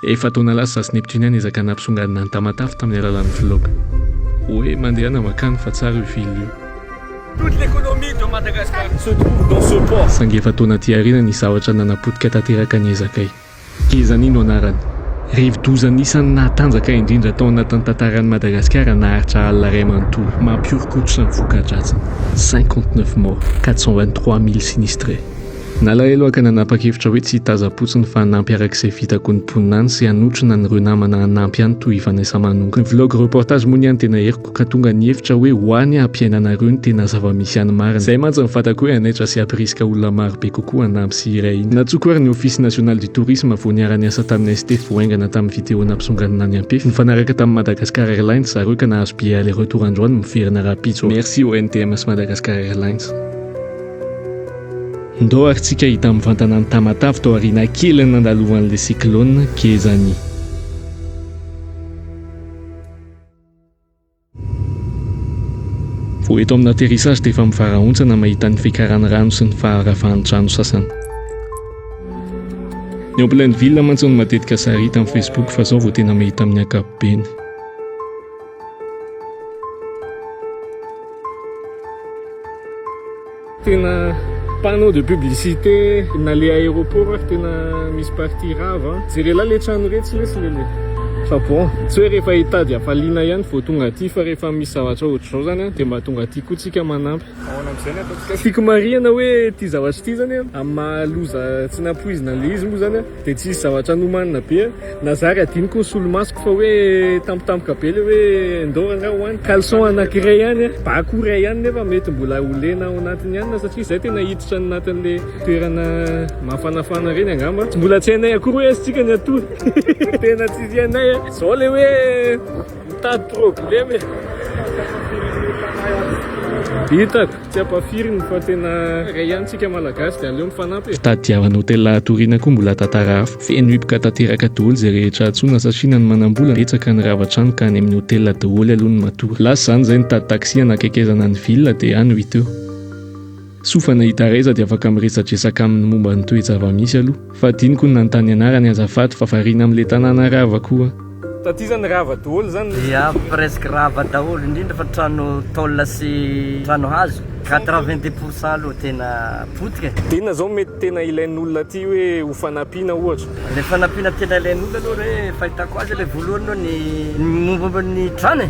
Efa taona lasa sasy Neptunien niezaka nampisongadina an'i Tamatave tamin'ny alalan'ny vlog. Hoe mandehana mankany fa tsara io ville io. Toute l'économie de Madagascar se trouve dans ce port. Saingy efa taona aty aoriana nisy zavatra nanapotika tanteraka ny ezakay. Gezani no anarany. Rivodoza anisan'ny nahatanjaka indrindra tao anatin'ny tantaran'i Madagasikara naharitra alina iray manontolo. Mampihoron-koditra ny voka-dratsiny. Cinquante-neuf morts, quatre cent vingt-trois mille sinistrés. Nalahelo aho ka nanapa-kevitra hoe tsy hitazam-potsiny fa hanampy araka izay vitako ny mponina any sy hanotrona an'ireo namana hanampy any toy i Vanessa Manonga. Ny vlog reportage moa ny any dia naheriko ka tonga nihevitra hoe ho any aho hampiaina anareo ny tena zava-misy any marina. Izay mantsy no fantako hoe hanaitra sy hampirisika olona maro be kokoa hanampy sy hiray hina. Nantsoiko ary ny Office National du Tourisme vao niara-niasa tamin'ny ST vao haingana tamin'ny video nampisonganina an'i Ampefy. Nifanaraka tamin'ny Madagascar Airlines ry zareo ka nahazo billet aller-retour androany miverina rahampitso aho. Merci au NTM sy Madagascar Airlines. Ndao ary tsika hita mivantana any Tamatave tao aoriana kely nandaloan'le cyclone Gezani. Vao eto amina atterrissage dia efa mivarahontsana mahita ny fiakaran'ny rano sy ny faharavan'ny trano sasany. Ny ao Plainville mantsy no matetika sary hita amin'ny Facebook fa zao vao tena mahita amin'ny ankapobeny. Tena panneau de publicité na le aéroport ary tena misy partie rava jereo lahy le trano retsy lesy le le fa bon tsy hoe rehefa hitady hafaliana ihany vao tonga aty fa rehefa misy zavatra ohatr'izao zany a dia mba tonga aty koa tsika manampy ahoana am'izay ny ataontsika tiako marihana hoe ity zavatra ity zany a amin'ny maha loza tsy nampoizina le izy moa zany a Dia tsy hisy zavatra nomanina be an! Na zary hadinoko ny solomasoko fa hoe tampotampoka be ilay hoe Indoro angaha ho any? Caleçon anankiray ihany an! Bako iray ihany nefa mety mbola ho lena ao anatin'ny anona satria izay tena hiditra any anatin'ilay toerana mafanafana ireny angamba. Tsy mbola tsy hainay akory hoe aiza tsika ny hatory. Tena tsy hainay an! Izao ilay hoe. Mitady problème e. Hitako, tsy ampafiriny fa tena ray ihany tsika malagasy dia aleo mifanampy e. Fitadiavana hôtel hatoriana koa mbola tantara hafa. Feno hipoka tanteraka daholo izay rehetra antsoina satria na ny manambola betsaka ny rava trano ka any amin'ny hôtel daholo aloha ny matory. Lasa izany izay nitady taxi hanakaikezana ny ville dia any ho hita eo. Sofana i Taraiza dia afaka miresadresaka aminy momba ny toe-java-misy aloha. Fa adinoko ny nanontany anarany azafady fa variana amin'ilay tanàna rava koa. Taty izany rava doholy izany ny. Ya presque rava daholo indrindra fa trano tôle sy trano hazo quatre vingt dix pour cent aloha tena potika e. Dia inona zao mety tena ilain'olona aty hoe ho fanampiana ohatra? Ilay fanampiana tena ilain'olona aloha re fahitako azy ilay voalohany aloha ny momba ny trano e.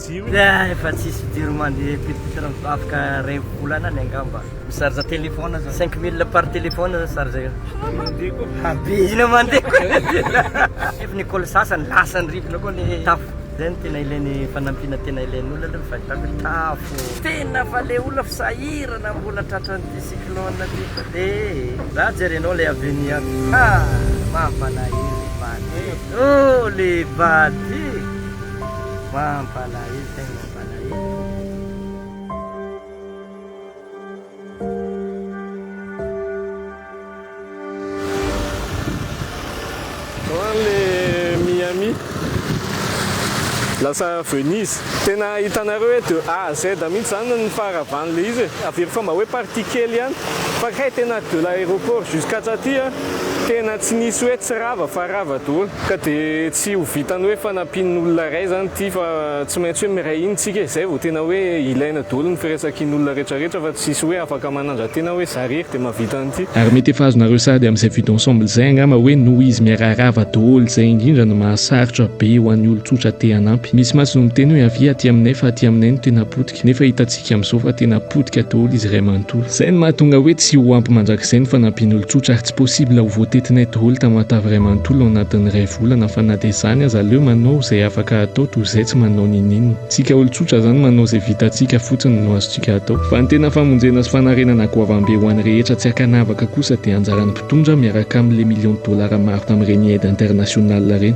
Efa tsisy fijery mandeha pitipitina mivavaka ray volana any angamba. Micharge téléphone zao cinq mille par téléphone zao charge io. Be ina mandeha ko. Nefa ny école sasany lasan'ny rivotra koa ny tafo. Zay no tena ilainy fanampiana tena ilain'ny olona aloha ny fahitako hoe tafo. Tena fa le olona fa sahirana mbola tratran'ity cyclone ty fa de za jerenao le avenir ah mampalahelo le vady oh le vady. Mampalahelo tegna mampalahelo. Any Miami lasa Venise. Tena hitanareo hoe de A à Z mihitsy zany ny faharavan'le izy e. Averiko fa mba hoe partie kely ihany fa kay tena de l'aéroport jusqu'à Catia. Tena tsy nisy hoe tsy rava fa rava daholo ka dia tsy ho vitan'ny hoe fanampian'ny olona iray izany ity fa tsy maintsy hoe miray hina isika izay vao tena hoe ilaina daholo ny firaisankin'ny olona rehetra rehetra fa tsisy hoe afaka manandra-tena hoe za rery dia mahavita an'ity. Ary mety efa azonareo sady amin'izay vue d'ensemble izay angamba hoe noho izy miaraha rava daholo izay indrindra no mahasarotra be ho an'ny olon-tsotra te hanampy. Misy mantsy no miteny hoe avia aty aminay fa aty aminay no tena potika. Nefa hitantsika amin'izao fa tena potika daholo izy iray manontolo. Izay no mahatonga hoe tsy ho ampy mandrakizay ny fanampian'olon-tsotra ary tsy possible ho voatetinay daholo tamatave iray manontolo ao anatin'ny iray volana fa na dia izany aza aleo manao izay afaka atao toy izay tsy manao ninoninona. Tsika olon-tsotra izany manao izay vitantsika fotsiny no azontsika atao. Fa ny tena famonjena sy fanarenana goavambe ho an'ny rehetra tsy ankanavaka kosa dia anjaran'ny mpitondra miaraka amin'ilay millions de dollars maro tamin'ireny aide internationale ireny.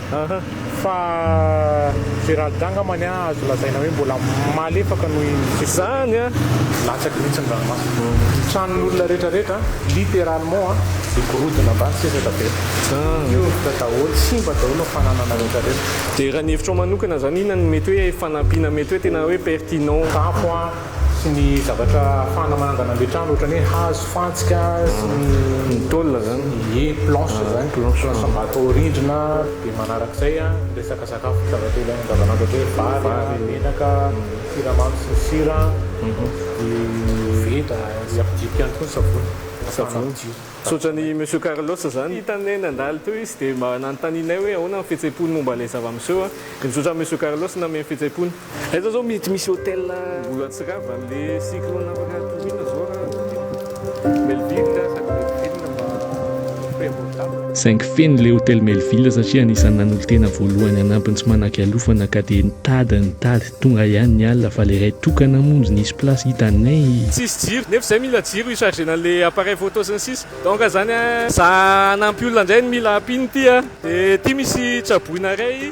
Aha, fa Gérald angambany an azo lazaina hoe mbola malefaka noho izany an, latsaky mihitsy ny ranomasina, ny tranon'olona rehetra rehetra littéralement an dia gorodona ambany sesaka be, miovitra daholo, simba daholo ny fananana rehetra rehetra. Dia raha ny hevitrao manokana izany inona no mety hoe fanampiana mety hoe tena hoe pertinent? Tapo an. sy ny zavatra ahafahana manangana an'ilay trano ohatran'ny hoe hazo, fantsika sy ny Ny tôle zany? Ie, planche zany, planche am-bato ao rindrina, dia manarak'izay ny resaka sakafo, zavatra ilaina andavanandro ohatra hoe vary, menaka, siramamy sy ny sira, koveta, dia ampidiriko ihany koa ny savony ahafahana madio. Misaotra an'i Monsieur Carlos zany. Hitanay nandalo teo izy dia mba nanontanianay hoe ahoana ny fihetseham-pony momba ilay zava-miseho dia misaotra an'i Monsieur Carlos nanome ny fihetseham-pony. Eto zao mety misy hôtel. Mbola tsy rava anle cyclone afaka toriana zao ra hôtel Melville sady Melville mba très abordable. Saingy feno ilay hôtel Melville satria anisan'ny nanolo-tena voalohany hanampy ny tsy manan-kialofana ka dia nitady nitady tonga ihany ny alina fa ilay iray tokana moa nzy nisy place hitanay. Tsisy jiro, nefa izay mila jiro hi-chargena an'ilay appareil photo sy ny sisa. Donc izany an. Za hanampy olona indray no mila ampiana ity an. Dia ity misy tsaboina iray.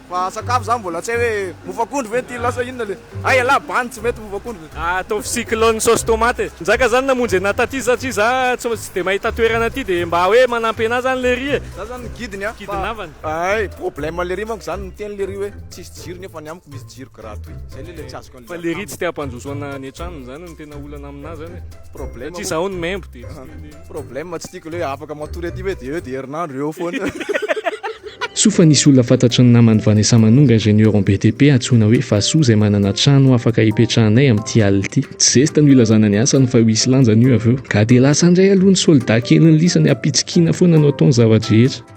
Fa sakafo zany mbola tsy hay hoe mofo akondro ve ny tilona sa inona le. Hay ialahy bandy tsy mety mofo akondro e. Ataovy cyclone sauce tomate e. Njaga zany namonjy anah taty satria za tsy tsy de mahita toerana aty de mba hoe manampy anah zany lery e. Za zany ny guide ny ahy fa hay problème lery manko zany miteny lery hoe tsisy jiro nefa ny amiko misy jiro gratuit zay le le tsy azoko. Fa le riz tsy te hampandroso ana any an-tranony zany no tena olana aminà zany e. Problème Satria zaho ny membo de tsy te le. Problème tsy tiako le hoe afaka matory aty ve de eo de herinandro eo foana. Soa fa nisy olona fantatry ny naman'i Vanessa Manonga ingénieur en BTP antsoina hoe Fasoa izay manana trano afaka hipetrahanay amin'ity alina ity. Tsy zesta no hilazana ny asany fa ho hisy lanjany io avy eo. Ka dia lasa indray aloha ny soldat kelin'ny lisany hapitsikiana foana no atao ny zava-drehetra.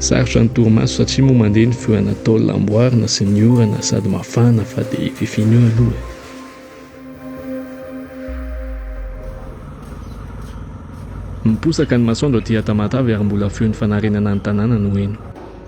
Sarotra ny torimaso satria moa mandeha ny feo Anatole amboarina sy ny orana sady mafana fa dia i fifiny io aloha e. Miposaka ny masoandro aty Tamatave ary mbola feon'ny fanarenana ny tanàna no heno.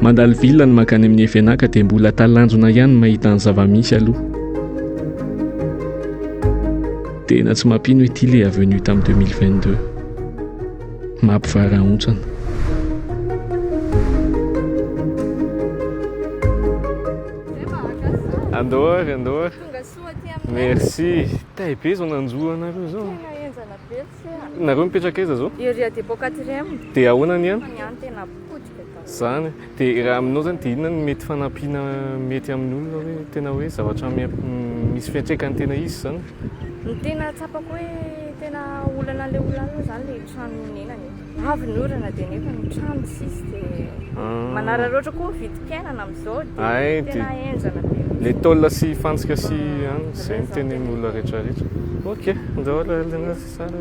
Mandalo villa ny makany amin'ny FNAK dia mbola talanjona ihany mahita ny zava-misy aloha. Tena tsy mampino ity le avenue tamin'ny 2022. Mampivarahontsana. Andor, andor. Merci. Tay be zao nanjo anareo zao. Nareo mipetraka aiza zao? Ery à dépôt quatrième. Dia ahoana ny an? Ny an tena potika ka. Zany. Dia raha aminao zany dia inona ny mety fanampiana mety amin'ny olona hoe tena hoe zavatra misy fiantraikany tena izy zany? Ny tena tsapako hoe tena olana le olona zany le trano ionenany. Avy ny orana dia nefa ny trano tsisy dia ah. manararaotra koa ny vidim-piainana amin'izao dia tena henjana be. Le tôle sy fantsika sy ah, any izay ny teny amin'ny olona rehetrarehetra. Ok, ndao le le sara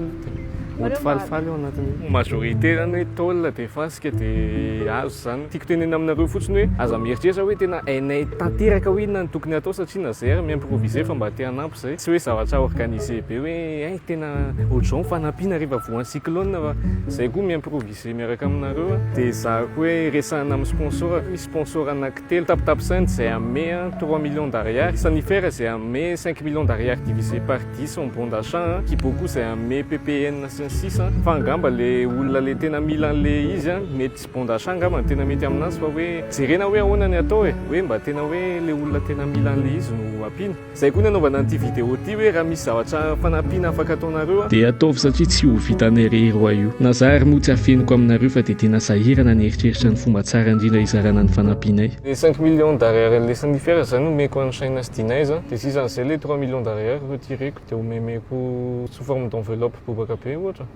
mody falifaly ao anatin'ny majorité zany hoe tôle dia fantsika dia azo izany. Tiako tenenina aminareo fotsiny hoe aza mieritreritra hoe tena hainay tanteraka hoe inona no tokony atao satria na zay ary mi-improviser fa mba te hanampy Izay tsy hoe zavatra organisé be hoe hay tena ohatr'izao ny fanampiana rehefa voan'ny cyclone fa izay koa mi-improviser miaraka aminareo a. Dia ezahiko hoe resahina amin'ny sponsor, misy sponsor anankitelo tapitapisaina izay hanome trois millions d'ariary, Sanifer izay hanome cinq millions d'ariary divisé par dix en bon d'achat a, Kiboku izay hanome ppn sy ny sisa a. Fa angamba ilay olona ilay tena mila an'ilay izy a, mety tsy bon d'achat angamba no tena mety aminazy fa hoe jerena hoe ahoana ny atao e, hoe mba tena hoe ilay olona tena mila an'ilay izy no ampiana. Izay koa ny anaovana an'ity vidéo ity hoe raha misy zavatra fanampiana afaka ataonareo a. Dia ataovy satria tsy ho vitanay irery hoa io. Na za ary moa tsy afeniko aminareo fa dia tena sahirana ny eritreritra ny fomba tsara indrindra hizarana ny fanampianay. Ny cinq millions d'arrières le sanifer zany omeko an'i Shaina sy Dinaiza dia sisa an'izay le trois millions d'arrières reo ty reko dia omemeko sous forme d'enveloppe bobaka be ohatra.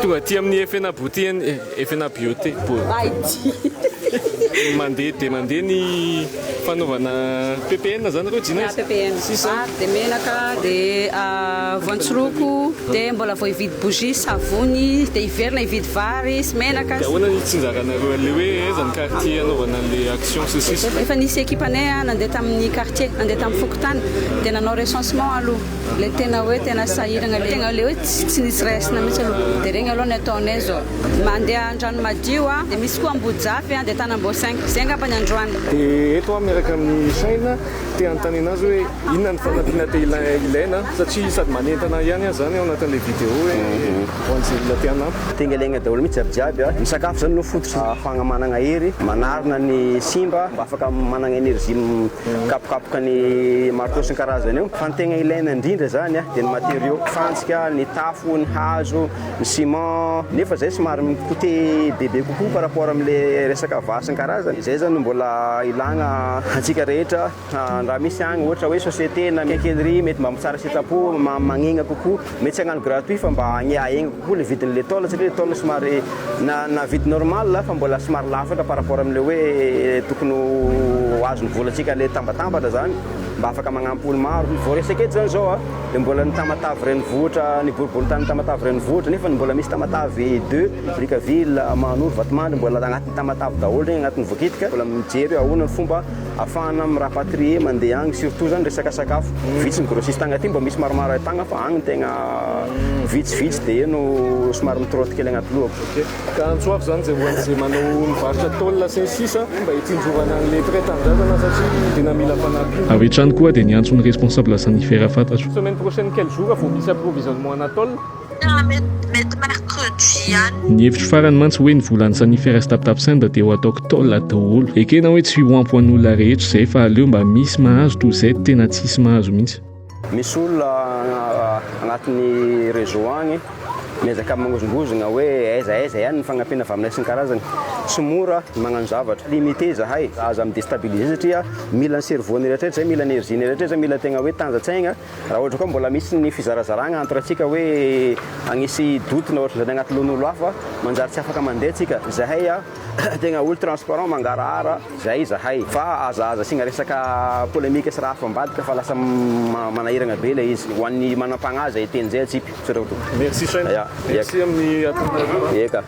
Tonga aty amin'ny Efena Beauty and Efena Beauté mandeha dia mandeha ny fanaovana PPN zany nareo Jina? Ya, PPN. Sisa? Vary dia menaka dia voantsiroko dia mbola vao hividy bougie, savony dia hiverina hividy vary sy menaka sy. Dia ahoana ny tsinjaranareo an'ilay hoe aiza ny quartier hanaovana an'ilay action sy ny sisa? Efa nisy ekipanay nandeha tamin'ny quartier, nandeha tamin'ny fokontany dia nanao recensement aloha. Ilay tena hoe tena sahirana, ilay tena hoe tsy nisy raisina mihitsy aloha, dia ireny aloha ny ataonay izao, mandeha Andranomadio aho, dia misy koa Ambojafy dia Tanambao cinq, izay angamba ny androany. Dia eto aho miaraka amin'ny saina te hanontaniana azy hoe inona ny fanampiana te ilaina satria sady manentana ahy ihany aho izany ao anatin'ilay video hoe ho an'izay olona te hanampy. Tengalenga daholo mihitsy jiaby jiaby a! Ny sakafo izany no fototra ahafahana manana hery, manarina ny simba mba afaka manana energie. Kapokapoka ny marteau sy ny karazany eo. Fa ny tegna ilaina indrindra zany dia ny matériaux, fantsika, ny tafo, ny hazo, ny ciment. Nefa zay somary mi-coûter bebe kokoa par rapport amle resaka vaha sy ny karazany. Zay zany no mbola ilagna antsika rehetra raha misy agny ohatra hoe société na quincaillerie mety mba mitsara sitrapo magnegna kokoa. Mety tsy hagnano gratuit fa mba hagny aegny kokoa le vidiny le tôle satria le tôle somary na na vide normal fa mbola somary lafatra par rapport amle hoe tokony ho azony vôlantsika le tambatambatra zany mba afaka magnampo olo maro vao resaka eto zany zao a de mbola ny tamatave renivohitra ny boriborintany tamatave renivohitra nefa mbola misy tamatave deux brickaville mahanoro vatomandry mbola agnatiny tamatave daholy regny agnatiny vokitika mbola mijery hoe ahona ny fomba Afahana mi rapatrier mandeha agny surtout zany resaka sakafo. Vitsy ny grossiste agny aty mba misy maromaro ay tagna fa agny tegna vitsy vitsy de eo no somary mi trotte kely agnaty lohako. Ok, ka antsoako zany ze ohatry ze manao mivarotra tôle sy ny sisa mba hitsinjovana agny le près tanindrazana satria tena mila fanampiana. Avy hatrany koa dia niantso ny responsable Sanifer fantatro. Semaine prochaine quel jour vao misy approvisionnement ana tôle? Tena mety mety mercredi ihany. Ny hevitro farany mantsy hoe ny volan'ny saniferas tapitapsenda dia ho ataoko tol daholo. Ekena hoe tsy ho ampy ho an'olona rehetra izay fa aleo mba misy mahazo toy izay tena tsisy mahazo mihitsy. Misy olona agnatin'ny réseau agny miezaka magnozongozogna hoe aiza aiza ihany ny fagnampiana avy aminay sy ny karazany. Tsy mora ny magnano zavatra. Limiter zahay. Aza mi-destabiliser satria mila ny cerveau-ny eritreritry zay, mila ny énergie-ny eritreritry zay, mila tegna hoe tanjantsaigna. Raha ohatra koa mbola misy ny fizarazaragna entre antsika hoe hagnisy doute na ohatran'izany agnaty lohan'olo hafa, manjary tsy afaka mandeha antsika. Zahay a, tegna olo transparent mangarahara, zay izahay. Fa aza aza asiagna resaka polemique sy raha hafa ambadika fa lasa manahiragna be ilay izy. Ho an'ny manampagnahy zay teny zay atsipy. Misaotra tompoko. Merci Shyn. Merci amin'ny atonareo. Eka.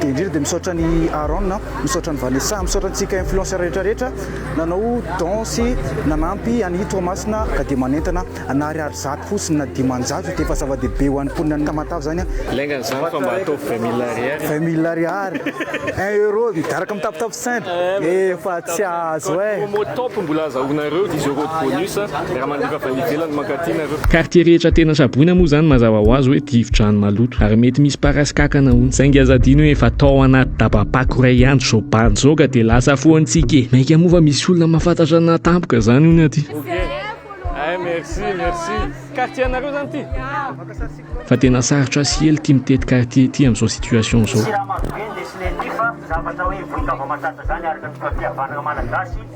Dia indrindra dia misaotra an'i Aaron, misaotra an'i Vanessa, misaotra antsika influenceurs rehetra rehetra nanao don sy nanampy an'i Toamasina ka dia manentana na ariary zato fosiny na dimanjato dia efa zava-dehibe ho an'ny mponinan'i Tamatave izany an! Lainga an'izany fa mba ataovy vingt mille ariary e! Vingt mille ariary! Un euro miaraka amin'ny tapotapo simple efa tsy azo eh! Promo top mbola azahoanareo dix euros de bonus. Miara-mandefa avy any ivelany mankaty nareo. Quartier rehetra tena saboina moa zany mazava ho azy hoe rivodrano maloto ary mety misy parasy kankana hono. Saingy aza adino hoe efa tao anaty daba-pako iray andro zao bandy zao ka dia lasa foantsika e! Mainka moa fa misy olona mahafantatra ny naha tampoka zany hono aty. Ok eh merci merci. Quartier anareo zany ty? Fa tena sarotra sy ela ity mitety quartier ity amin'izao situation izao. Siramamy be ny dessinée ty fa zavatra hoe vohikavao matanjaka zany araka ny fahafihavanagna malagasy.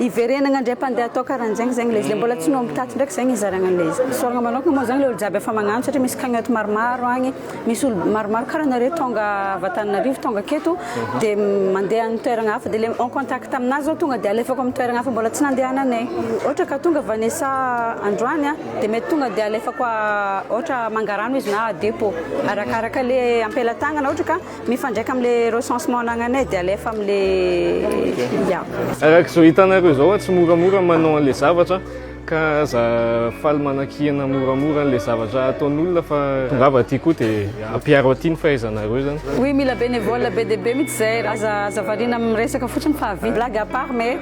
Hiverenagna indray mpandeha atao karanjegny zegny le izy le mbola tsy noho mitaty ndraiky zegny hizaragna anle izy isaoragna manokagna moa zegny le olo jiaby efa magnano satria misy cagnotte maromaro agny misy olo maromaro kara anareo tonga avy Antananarivo tonga aketo de mandeha any toeragna hafa de le en contact amina zao tonga de alefako aminy toeragna hafa mbola tsy nandehananay ohatra ka tonga Vanessa androany a de mety tonga de alefako ohatra Mangarano izy na Adepo arakaraka le ampelatagnana ohatra ka Mifandraika amin'le recensement anagnanay dia alefa amin'le yeah. Araka izao hitanareo izao tsy moramora manao an'le zavatra ka aza faly manakiana moramora an'le zavatra ataon'olona fa tongava aty koa dia ampiaro aty ny fahaizanareo zany. Oui mila bénévole be dia be mitsy zay, aza aza variana amin'ny resaka fotsiny fa vie blague à part mais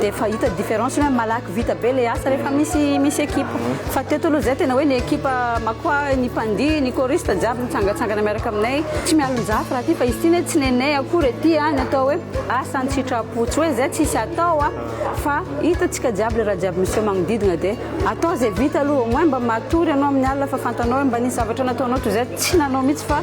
dia efa hita différence hoe malaky vita be ilay asa rehefa misy misy ekipa fa teto aloha izay tena hoe ny ekipa makoa ny mpandihy ny choriste jiaby mitsangatsangana miaraka aminay tsy mialonjafy raha ty fa izy ty ne tsy nenay akory ety a ny atao hoe asa an-tsitrapo tsy hoe izay tsisy atao a fa hitantsika jiaby ilay raha jiaby miseho magnodidina dia atao izay vita aloha au moins mba matory ianao amin'ny alina fa fantanao hoe mba nisy zavatra nataonao toy izay tsy nanao mihitsy fa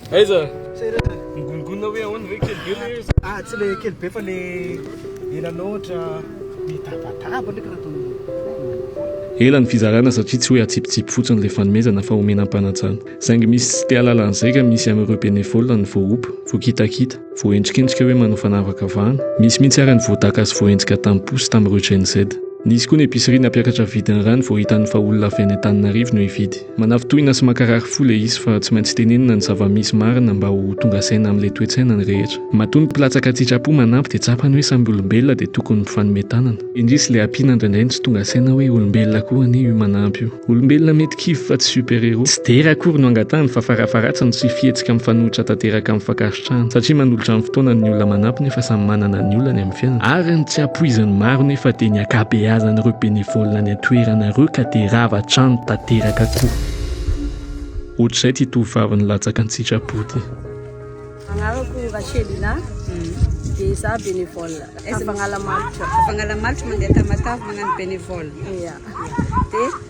Aiza? Migongonona hoe ahoana ve kely be le izy? Ah, tsy le kely be fa le ela loatra. Mitabataba ndreky raha tony. Ela ny fizarana satria tsy hoe atsipitsipy fotsiny le fanomezana fa omena am-panatsana. Saingy misy tsy te alalan'ny zaika misy amin'ireo bénévoles ny voaompa, voakitakita, voaendrikendrika hoe manao fanavakavahana. Misy mihitsy ary ny voadaka sy voaenjika tamim-po sy tamin'ireo Gen-Z. Nisy koa ny épicerie nampiakatra vidin'ny rano vao hitany fa olona avy any Antananarivo no hividy. Manafintohina sy mankarary fo ilay izy fa tsy maintsy tenenina ny zava-misy marina mba ho tonga saina amin'ilay toe-tsaina ny rehetra. Matoa ny mpilatsaka an-tsitrapo manampy dia tsapany hoe samy olombelona dia tokony mifanome tanana. Indrisy ilay ampiana indraindray no tsy tonga saina hoe olombelona koa anie io manampy io. Olombelona mety kivy fa tsy super-héros. Tsy dera akory no angatahany fa farafaharatsiny tsy fihetsika mifanohitra tanteraka amin'ny fakan-. Satria manolotra ny fotoanany ny olona manampy nefa samy manana ny olany amin'ny fiainana. Ary ny tsy ampoizin'ny maro nefa dia ny ankabeazan'ireo bénévoles any an-toerana ireo ka dia rava hatrany tanteraka koa. Ohatr'izay ity tovovavy nilatsaka an-tsitrapo ity. Anarako Rachelina, dia izaho bénévole Ampagnalamaritra. Ampagnalamaritra, mandeha Tamatave magnano bénévole. Dia.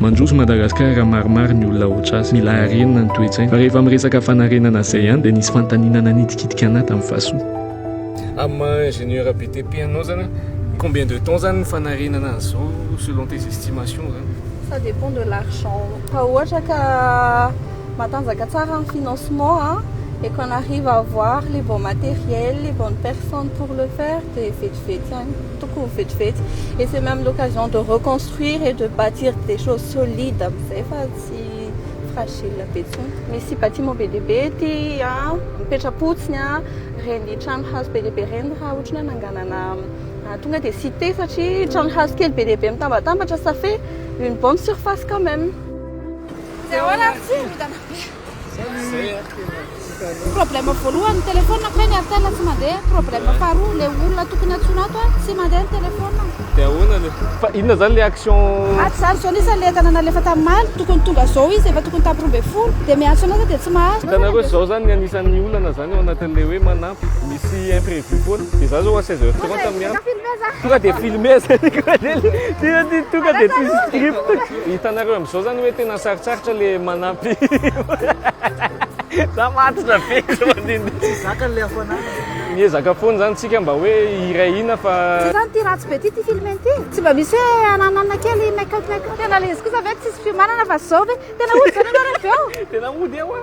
Mandroso Madagascar maromaro ny olona otras, mila arenina ny toetsaina, fa rehefa miresaka fanarenana zay ihany dia nisy fantanina nanitikitika anah tam fahasoa. Am maha ingénieur BTP anao zany a, combien de temps zany ny fanarenana azy zao selon tes estimations zany? Ça dépend de l'argent, raha ohatra ka matanjaka tsara ny financement a, et qu'on arrive à avoir les bons matériels, les bonnes personnes pour le faire dia vetivety ihany. Tokony vetivety et c'est même l'occasion de reconstruire et de bâtir des choses solides amin'izay fa tsy fragile be intsony. Misy bâtiment be dia be ety an, mipetra-potsiny an, ireny trano hazo be dia be ireny raha ohatry ny hoe ananganana tonga dia cité satria trano hazo kely be dia be mitambatambatra ça fait une bonne surface quand même. Tsy ahoana ary tsy vintana be. Problème voalohany téléphone ko ny Airtel tsy mandeha, problème faharoa le olona tokony antsoina ato a tsy mandeha ny téléphone. De ahoana le. Fa inona zany le action. Ato zany zao nisy le entana nalefa tam maly tokony tonga zao izy efa tokony tam roa ambin'ny folo de miantso anazy de tsy mahazo. Hitanareo zao zany ny anisan'ny olana zany ao anatin'ny le hoe manampy misy imprevu foana de za zao à 16 heures 30 miantso. Tonga de filmer zany koa lely. Tena tonga de tsisy script. Hitanareo amzao zany hoe tena sarotsarotra le manampy za matotra be zao mandinika tsy zakany le hafanana miezaka foana zany tsika mba hoe hiray hina fa tsy zany ty ratsy be ty ty film ty tsy mba misy hoe ananana kely make up make up tena le izy kosa ve tsisy fiomanana fa zao ve tena hody zany ianao reveo tena hody eo a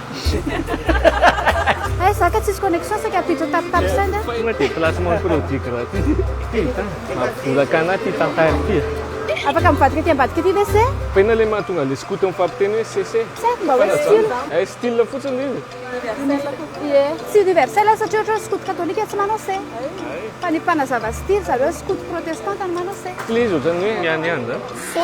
Hay za ka tsisy connexion saika bitro tapitapy send a. Tonga aty placement produit gratuit. Titan, mampibolaka anah ty tantara ity e. Afaka mivadika aty ambadika aty ve se? Fa inona le mahatonga an'le skoto mifampiteny hoe se se? Sa efa mba hoe style? Eh style fotsiny io e. Ie. Tsy universel satria ohatra hoe skoto katolika tsy manao se. Fa ny mpanazava style zareo skoto protestanta no manao se. Style izy ohatran'ny hoe mianiany zany. Se.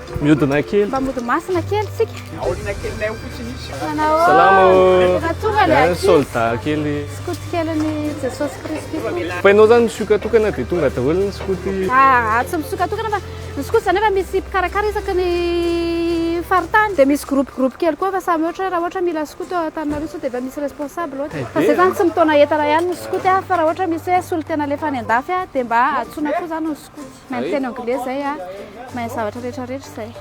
Miodina kely. Mba mody masina kely tsika. Aorina kely nay fotsiny izy. Salamo. Tonga solda kely. Skoty kely ny Jesosy Kristy. Painao zany misokatokana dia tonga daholo ny skoty. Ah, ah tsy misokatokana fa ny skoty zany efa misy mpikarakara isaky ny faritany dia misy groupe groupe kely koa fa samy ohatra hoe raha ohatra mila skoty ao Antananarivo sao dia efa misy responsable ohatra. Eh, fa zay zany tsy mitaona entana ihany ny skoty fa raha ohatra misy hoe solontena alefa any andafy dia mba antsoina koa zany ny Mahay miteny anglais zay a, mahay zavatra rehetra rehetra zay.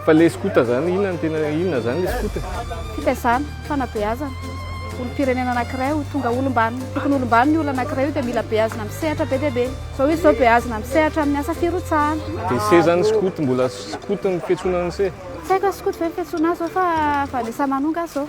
Fa le scouta zany inona no tena inona zany le scouta? Fitaizana, fanabeazana. Olom-pirenena anankiray ho tonga olom-banona. Tokony olom-banona io olona anankiray io dia mila beazina amin'ny sehatra be dia be. Izao izy izao beazina amin'ny sehatra amin'ny asa firotsahana. Dia se zany scouta mbola scouta ny fiantsoana an'se? Tsy haiko a scouta ve ny fiantsoana azy zao fa vanessa mano nga zao.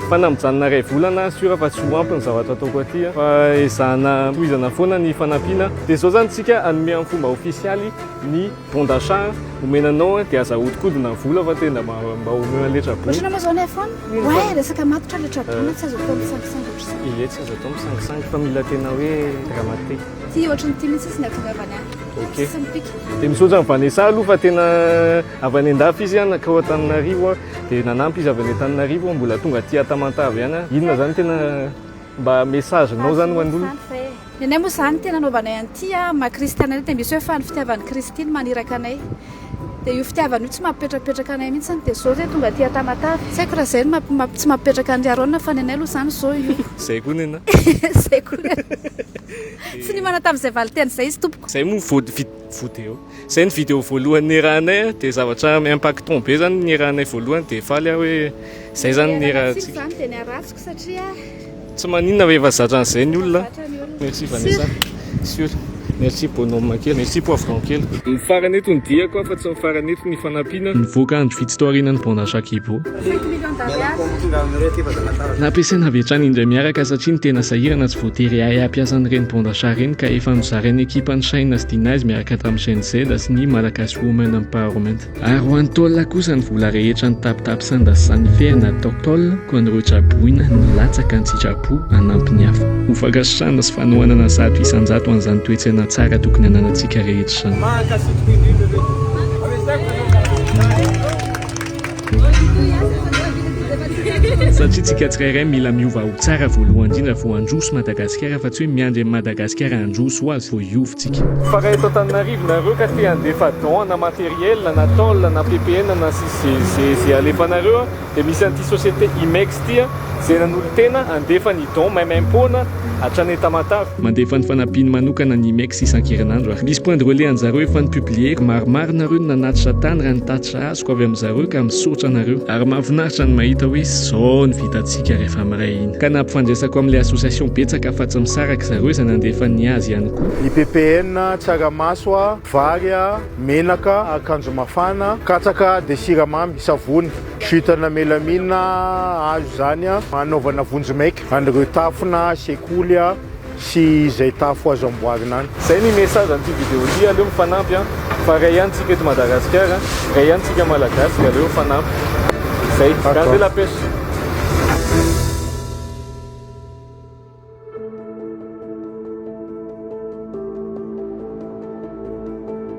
Fa na mijanona iray volana aho sûr fa tsy ho ampy ny zavatra ataoko aty an. Fa ezahana tohizana foana ny fanampiana. Dia izao izany isika hanome amin'ny fomba ofisialy ny bon d'achat omena anao an, dia aza ahodikodina ny vola fa tena mba omeo an'ilay Trabona. Ohatrana moa izao ny iPhone? Ouais, resaka matotra ilay Trabona, tsy azo atao misangisangy ohatr'izany. Ie, tsy azo atao misangisangy fa mila tena hoe dramatique. Ity ohatran'ity mihitsy izy no ahatongavany any. Ok. Sisa mipika. Dia misaotra an'i Vanessa aloha fa tena. Avy any an-dafy izy an, nankao Antananarivo an, dia nanampy izy avy any Antananarivo an, mbola tonga aty Tamatave ihany an, inona zany tena mba message nao zany ho an'olona? Ny anay moa zany tena anaovanay an'ity an, maha kristiana anay dia misy hoe fa ny fitiavan'i Kristy no maniraka anay, dia io fitiavana io tsy mampipetrapetraka anay mihintsy an, dia zao zay tonga aty Tamatave, tsy haiko raha zay no mampi, tsy mampipetraka an'i Aron fa ny anay aloha zany zao io. Zay koa ny anay. Zay koa ny anay. Tsy niomana tamin'izay valinteny izay izy tompoko. Zay moa vao, vao dia eo. Zay ny video voalohany niarahanay a, dia zavatra impactant be zany niarahanay voalohany dia faly aho hoe zay zany niarahantsika. Tsy maninona rehefa zatra an'izay ny olona. Merci Vanessa. Sur. Merci Bonhomme kely. Merci Poivron kely. Ny farany eto no diako a fa tsy ny farany eto ny fanampiana. Nivoaka andro vitsy tao aorianan'ny Bande à Chat Kibo. Nampiasaina avy hatrany indray miaraka satria ny tena sahirana tsy voatery hahay hampiasa an'ireny bon d'achat ireny ka efa nozarain'ny ekipan'i Shaina sy Deniz miaraka tamin'ny Gen Z sy ny Malagasy Women Empowerment. Ary ho an'i Tola kosa ny vola rehetra nitapitapy sanda sy sanifera natao Tol koa an'ireo traboina nilatsaka an-tsitrapo hanampy ny hafa. Ho fankasitrahana sy fanohanana zato isan-jato an'izany toe-tsaina tsara tokony hananantsika rehetra izany. Satria tsika tsirairay mila miova ho tsara voalohany indrindra vao handroso Madagasikara fa tsy hoe miandry an'i Madagasikara handroso ho azy vao hiova tsika. Fa raha eto Antananarivo nareo ka te handefa don na matériel na tôle na ppn na sy ze ze ze alefanareo a de misy an'ity société IMEX ty a ze nanolo-tena handefa ny don même impôt na hatrany Tamatave. Mandefa ny fanampiany manokana ny IMEX isan-kerinandro ary misy point de relais an'zareo efa ni-publier-ko. Maromaro nareo no nanatitra tany raha ny tatitra azoko. Arotsako avy amin'izareo ka misaotra anareo ary mahafinaritra ny mahita hoe izao ny vitantsika rehefa miray hina ka nampifandraisako amin'ilay association betsaka fa tsy misaraka zareo izay nandefa ny azy ihany koa. Ny PPN, tsaramaso a, vary a, menaka, akanjo mafana, katsaka dia siramamy, savony, jute na melamine azo izany hanaovana vonjimaika an'ireo tafona, sekoly a. sy izay tafo azo amboarina any. Zay ny message an'ity vidéo ty, aleo mifanampy an, fa ray ihany tsika eto Madagasikara, ray ihany tsika Malagasy de aleo mifanampy. Zay, gardez la pêche.